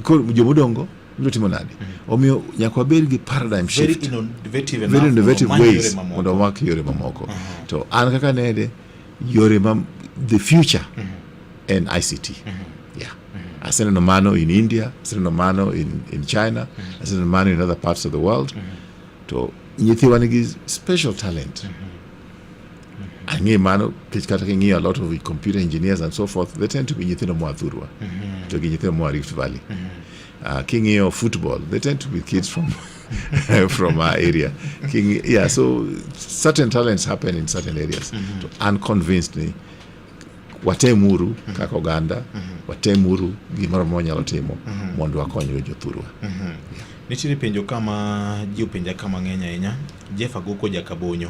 koro joma odongo biro timo nadi mm-hmm. omiyo nyaka wabed gi paradigm shift very innovative ways mondo wamak yore mamoko mm-hmm. to an kaka nede yore ma the future mm-hmm. en ict yeah aseneno mano in india aseneno mano in, in china aseneno mano in other parts of the world to nyithiwa nigi special talent Ang'e mano kech kata king'iyo a lot of computer engineers and so forth they tend to be nyithindo moa Thurwa mm -hmm. to gi nyithindo moa Rift Valley mm -hmm. uh, king'iyo football they tend to be kids from from our area King, yeah so certain talents happen in certain areas mm -hmm. to unconvinced ni watemuru mm -hmm. kaka oganda mm -hmm. watemuru gimoro moro nyalo timo mm -hmm. mondo wakonyre jothurwa mm -hmm. yeah. nitiere penjo kama ji openja ka mang'eny ahinya jeff aguko jakabonyo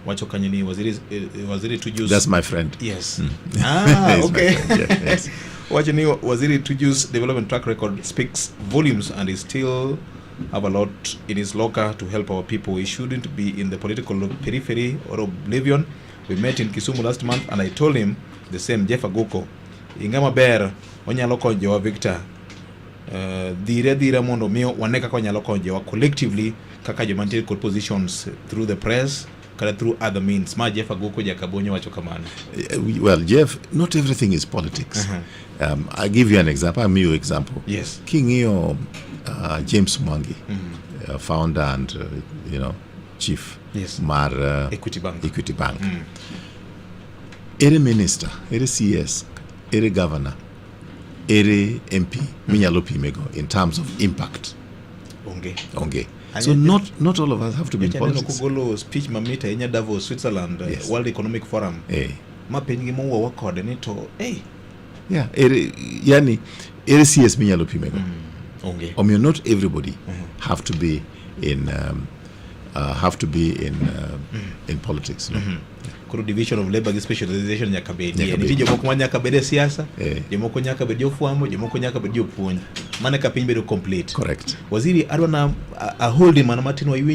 wacho kanyo ni waziri, eh, eh, waziri tujus That's my friend. yes mm. ah, okay yeah, yes. wacho ni waziri tujus development track record speaks volumes and is still have a lot in his locker to help our people. He shouldn't be in the political periphery or oblivion. We met in Kisumu last month and I told him the same Jeff Aguko. Inga maber onyalo konyo jowa Victor. Uh, dhire dhire mondo mi wane kaka onyalo konyo jowa collectively kaka joma nitie kod positions through the press kata through other means ma Jeff Aguko Jakabonyo wacho kamano. Eh, well, Jeff, not everything is politics. Uh -huh. Um, I give you an example, I give you example. Yes. King'iyo uh, James Mwangi, mm -hmm. uh, founder and uh, you know chief yes. mar uh, Equity Bank, Equity Bank. Mm. ere minister ere cs ere governor ere mp mm. minyalo pimego in terms of impact onge onge so not not all of us have to be in politics kugolo speech mamit ahinya Davos Switzerland uh, yes. World Economic Forum eh. ma piny gi mowuowa kode ni to hey, yeah, ere, yani ere CS minyalo pimego mm. okay. omiyo not everybody mm -hmm. have to be in um, uh, have to be in uh, mm. in politics no? mm -hmm. koro division of labor gi specialization nyaka bedie nitie jomoko ma nyaka bed e siasa eh. jomoko nyaka bed jofwambo jomoko nyaka bed jopuonj mana ka piny bedo complete correct waziri adwa na aholdi mana matin waiwinj